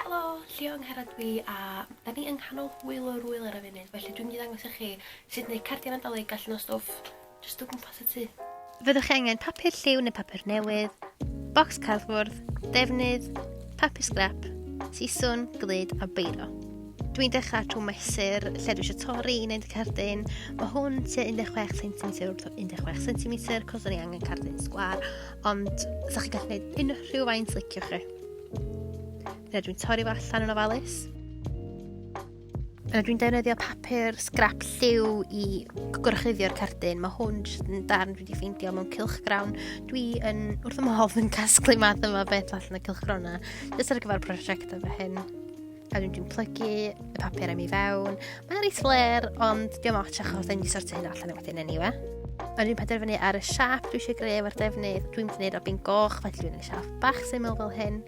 Helo, Llio Angharad dw i a 'da ni yng nghanol hwyl o'r ŵyl ar y funud felly dwi'n mynd i ddangos i chi sut neu cardiau Nadolig allan o stwff jyst o gwmpas y tŷ. Fyddwch chi angen papur lliw neu papur newydd, bocs cardfwrdd, defnydd, papur sgrap, siswn, glud a beiro. Dwi'n dechrau trwy mesur lle dwi eisiau torri i wneud y cardyn. Mae hwn tua 16 cm wrth 16 cm cos o'n i angen cardyn sgwar ond sa chi gallu gwneud unrhyw faint liciwch chi. Yna dwi'n torri fo allan yn ofalus. Yna dwi'n defnyddio papur sgrap lliw i gorchuddio'r cardyn. Mae hwn jyst yn darn dwi wedi ffeindio mewn cilchgrawn. Dwi yn wrth ymhodd yn casglu math yma beth allan y cilchgrawn yna, jyst ar gyfer prosiect efo hyn. a dwi'n dwi'n plygu y papur am i fewn. Mae'n rhaid fler, ond diolch ots achos da ni'n sortio hyn allan wedyn yn iwe. Ond dwi'n penderfynu ar y siap dwi eisiau greu efo'r defnydd. Dwi'n mynd i wneud o bin goch, felly dwi'n gwneud siap bach syml fel hyn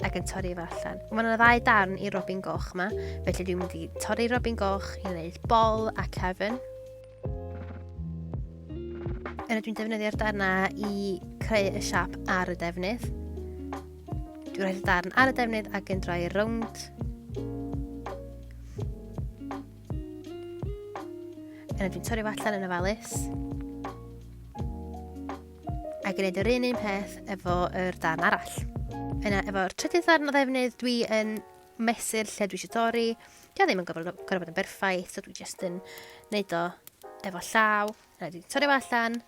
ac yn torri fo allan. Mae yna ddau darn i robin goch yma, felly dwi'n mynd i torri robin goch i wneud bol a cefn. Yna dwi'n defnyddio'r darna i creu y siap ar y defnydd. Dwi'n rhoi'r darn ar y defnydd ac yn droi rownd. Yna dwi'n torri allan yn y falus. Ac yn edrych un un peth efo yr darn arall. Yna efo'r trydydd ddarn o ddefnydd dwi yn mesur lle dwi eisiau dorri. Dwi ddim yn gorfod, gorfod bod yn berffaith, so dwi jyst yn neud o efo llaw. Na, dwi torri fo allan.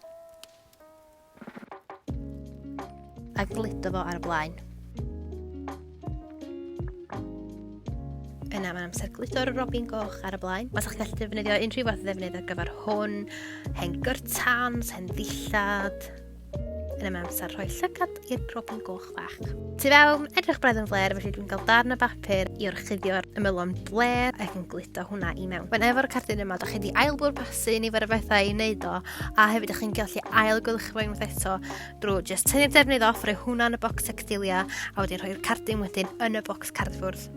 A gludo fo ar y blaen. Yna mae'n amser gludo'r robin goch ar y blaen. Os ydych chi'n gallu defnyddio unrhyw fath o ddefnydd ar gyfer hwn, hen gyrtans, hen ddillad, yn ymwneud amser rhoi llygad i'r robin goch fach. Tu fewn, edrych braidd yn fler, felly dwi'n cael darn o bapur i orchuddio'r ymylon bler ac yn gludo hwnna i mewn. Mae'n efo'r cardyn yma, da chi wedi ail bwr pasu ni fod y bethau i wneud o, a hefyd ydych chi'n gallu ail gwylch fo unwaith eto drwy just tynnu'r defnydd off, rhoi hwnna yn y bocs textilia, a wedi rhoi'r cardyn wedyn yn y bocs cardfwrdd.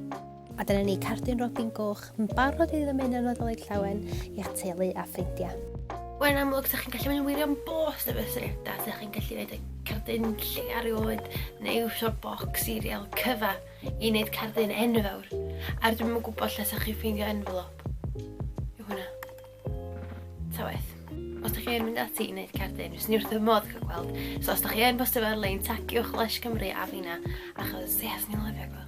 A dyna ni, cardyn robin goch yn barod i ddymun y Nadolig Llawen i'ch teulu a ffrindiau. Mae'n amlwg, ydych chi'n gallu mynd yn wirion bos efo syniadau, ydych chi'n gallu gwneud y cardyn lle ar rioed, neu iwsio'r bocs sirial cyfa i wneud cardyn enfawr. A'r dwi'n yn gwybod lle sa'ch chi'n ffeindio envelop. Yw hwnna. Ta waith. Os da chi yn mynd ati i wneud cerdyn, fes ni wrth y modd cael gweld. So os da chi yn bostio ar lein, tagiwch Lesh Cymru a fina, achos yes, ni'n lyfio gweld.